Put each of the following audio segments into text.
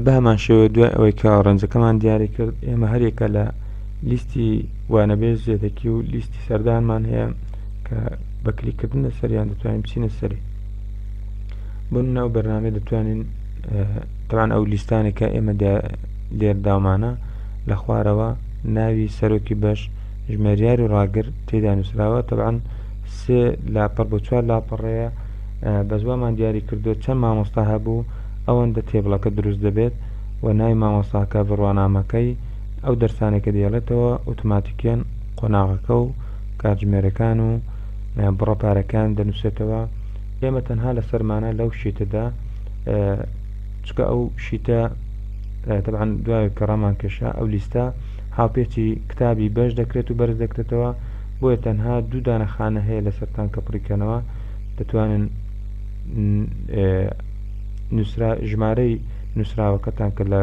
بەهەمانشێوە دوای ئەوەی کە ڕەنجەکەمان دیاری کرد ئێمە هەرێکە لە لیستی وانەبێژ زێدەکی و لیستی سەردانمان هەیە کە بەکلیکردن لە سەریان دەتوانین بچینە سەری بن ناو بەرنامە دەتوانین تاوان ئەو لیستانێکە ئێمە لێر داومانە لە خوارەوە ناوی سەرۆکی بەش ژمێریار و ڕاگر تێدا نووسراوە تەبان سێ لاپەر بۆ چوار لاپەڕەیە بەس وامان دیاری کردووە چەند مامۆستا هەبوو ئەوەندە تێبڵەکە دروست دەبێت و نای مامۆستاکە بڕوانامەکەی ئەو دەرسانێکە دێڵێتەوە ئۆتوماتیکیان قۆناغەکە و کاتژمێرەکان و بڕە پارەکان دەنووسێتەوە ئێمە تەنها لە سەرمانە لەو شیتەدا چکە ئەو شیتە تەعاان دوای کەڕامان کێشا ئەو لیستە هاوپێچی کتابی بەش دەکرێت و بەرز دەکرێتەوە بۆیە تەنها دوو دانە خانە هەیە لەسەر تانکە پڕی کەنەوە دەتوانن ژمارەی نووسراوەکە تانکە لە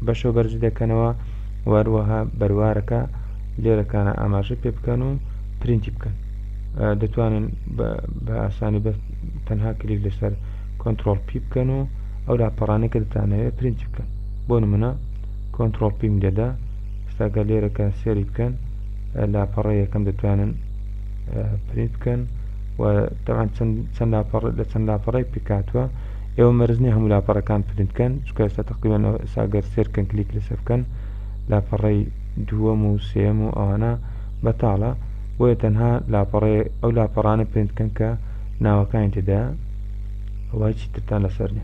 بەشەوە بەرزی دەکەنەوە واروەها بەروارەکە لێرەکانە ئاماژە پێ بکەن و پرینتی بکەن دەتوانن بە ئاسانی بە تەنها کلیک لەسەر کۆنتترۆل پی بکەن و ئەو لاپەڕانەکە دەتانەوێت پرینتی بکەن بۆ نمونە کۆنتترۆل پیم دەدا ستا گەر لێرە کە سێری بکەن لاپەڕە یەکەم دەتوانن پرینت بکەن و تەوان چەند لاپەڕ لە چەند لاپەڕی پکاتوە ئێوە مەرزنی هەموو لاپەڕەکان پرینتکەن چکە ئێستا تقریبان ساگەر سێرکەن کلیک لەسە بکەن لاپەڕی دووەم و سێم و ئەوانە بەتاڵە بۆیە تەنها لاپەڕێ ئەو لاپەڕانە پرینتکەن کە ناوەکانی تێدا وای چیترتان لەسەر نێ